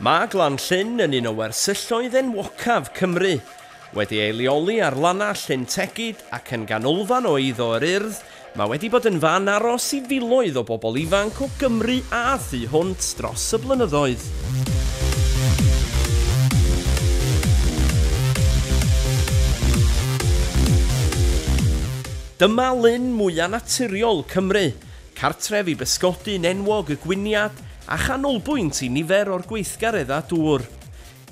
Mae Glan Llyn yn un o wersylloedd enwocaf Cymru. Wedi ei leoli ar lannau Llyn Tegid ac yn ganolfan o eiddo yr Urdd, mae wedi bod yn fan aros i filoedd o bobl ifanc o Gymru a thu hwnt dros y blynyddoedd. Dyma lyn mwya naturiol Cymru, cartref i bysgodyn enwog y gwiniad a chanolbwynt i nifer o'r gweithgareddau dŵr.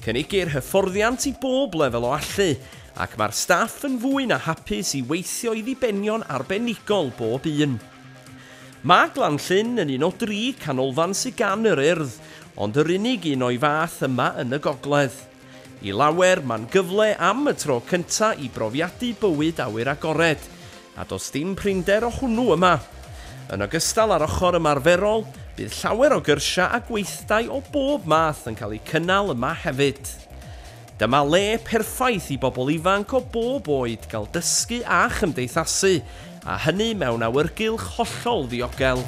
Cynigir hyfforddiant i bob lefel o allu, ac mae'r staff yn fwy na hapus i weithio i ddibenion arbenigol bob un. Mae Glanllyn yn un o dri canolfan sy gan yr Urdd, ond yr unig un o'i fath yma yn y gogledd. I lawer, mae'n gyfle am y tro cynta i brofiadu bywyd awyr agored, a does dim prinder o hwnnw yma. Yn ogystal â'r ochr ymarferol, bydd llawer o gyrsiau a gweithdai o bob math yn cael eu cynnal yma hefyd. Dyma le perffaith i bobl ifanc o bob oed gael dysgu a chymdeithasu A hynny mewn awyrgylch hollol ddiogel.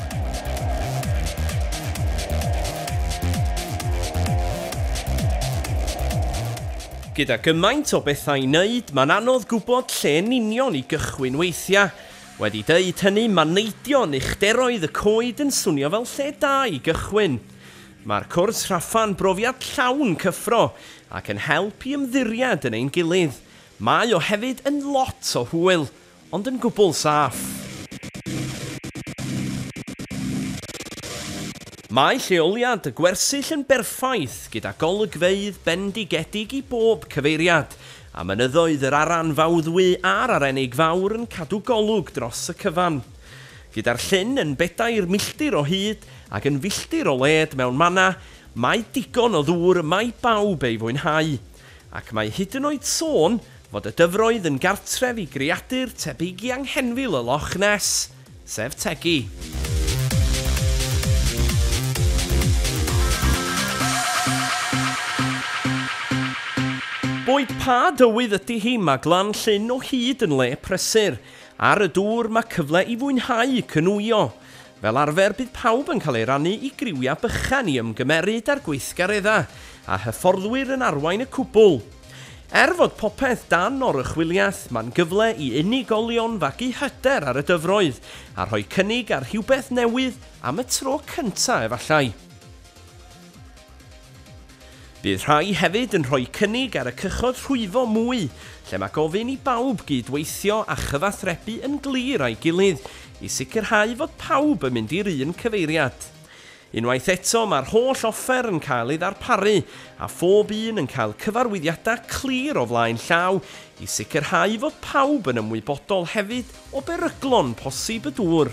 Gyda gymaint o bethau i wneud, mae'n anodd gwybod lle yn union i gychwyn weithiau. Wedi deud hynny, mae neidio yn uchderoedd y coed yn swnio fel lle da i gychwyn. Mae'r cwrs rhaffa'n brofiad llawn cyffro ac yn help i ymddiried yn ein gilydd. Mae o hefyd yn lot o hwyl, ond yn gwbl saff. Mae lleoliad y gwersyll yn berffaith gyda golygfeydd bendigedig i bob cyfeiriad, a mynyddoedd yr Aran Fawddwy a'r Arenig Fawr yn cadw golwg dros y cyfan. Gyda'r llyn yn bedair milltir o hyd ac yn filltir o led mewn mannau, mae digon o ddŵr yma i bawb ei fwynhau. ac mae hyd yn oed sôn fod y dyfroedd yn gartref i greadur tebyg i anghenfil y Loch Ness, sef tegi. Boed pa dywydd ydy hi, mae Glan Llyn o hyd yn le prysur. Ar y dŵr, mae cyfle i fwynhau cynwio. Fel arfer bydd pawb yn cael ei rannu i griwiau bychan i ymgymeryd â'r gweithgareddau, a hyfforddwyr yn arwain y cwbl. Er fod popeth dan oruchwyliaeth, mae'n gyfle i unigolion fagu hyder ar y dyfroedd a rhoi cynnig ar rhywbeth newydd am y tro cyntaf efallai. Bydd rhai hefyd yn rhoi cynnig ar y cychod rhwyfo mwy, lle mae gofyn i bawb gyd-weithio a chyfathrebu yn glir â'i gilydd i sicrhau fod pawb yn mynd i'r un cyfeiriad. Unwaith eto, mae'r holl offer yn cael ei ddarparu a phob un yn cael cyfarwyddiadau clir o flaen llaw i sicrhau fod pawb yn ymwybodol hefyd o beryglon posib y dŵr.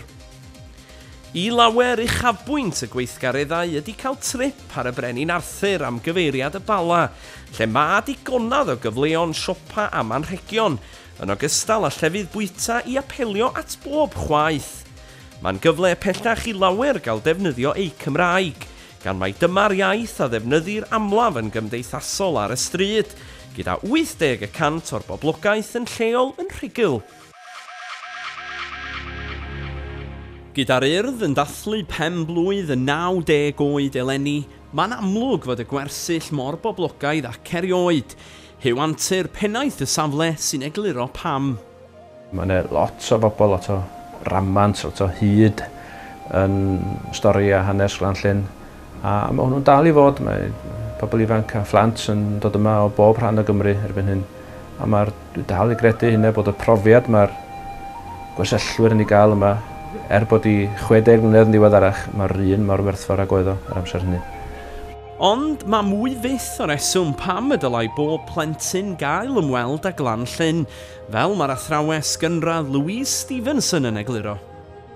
I lawer uchafbwynt y gweithgareddau ydy cael trip ar y Brenin Arthur am gyfeiriad y Bala, lle mae digonedd o gyfleon siopa am anrhegion, yn ogystal â llefydd bwyta i apelio at bob chwaeth. Mae'n gyfle pellach i lawer gael defnyddio eu Cymraeg, gan mai dyma'r iaith a ddefnyddir amlaf yn gymdeithasol ar y stryd, gyda 80 y cant o'r boblogaeth yn lleol yn rhugl. Gyda'r Urdd yn dathlu pen-blwydd y 90 oed eleni, mae'n amlwg fod y gwersyll mor boblogaidd ac erioed. Huw Antur, Pennaeth y safle, sy'n egluro pam. Mae yna lot o bobl, lot o ramant, lot o hud yn stori a hanes Glan Llŷn. A mae hwnnw'n dal i fod, mae pobl ifanc a phlant yn dod yma o bob rhan o Gymru erbyn hyn. A mae'r, dwi dal i gredu hynna, bod y profiad mae'r gwersyllwyr yn ei gael yma, er bod i 60 mlynedd yn ddiweddarach, mae'r un mor werthfawr ag oedd o yr amser hynny. Ond mae mwy fyth o reswm pam y dylai bob plentyn gael ymweld â Glan Llyn, fel mae'r athrawes gynradd Louise Stevenson yn egluro.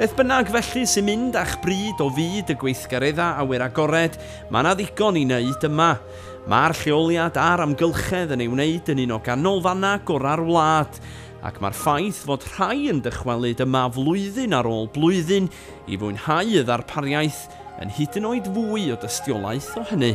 Beth bynnag felly sy'n mynd â'ch bryd o fyd y gweithgareddau awyr agored, mae yna ddigon i wneud yma. Mae'r lleoliad a'r amgylchedd yn ei wneud yn un o ganolfannau gorau'r wlad, ac mae'r ffaith fod rhai yn dychwelyd yma flwyddyn ar ôl blwyddyn i fwynhau y ddarpariaeth yn hyd yn oed fwy o dystiolaeth o hynny.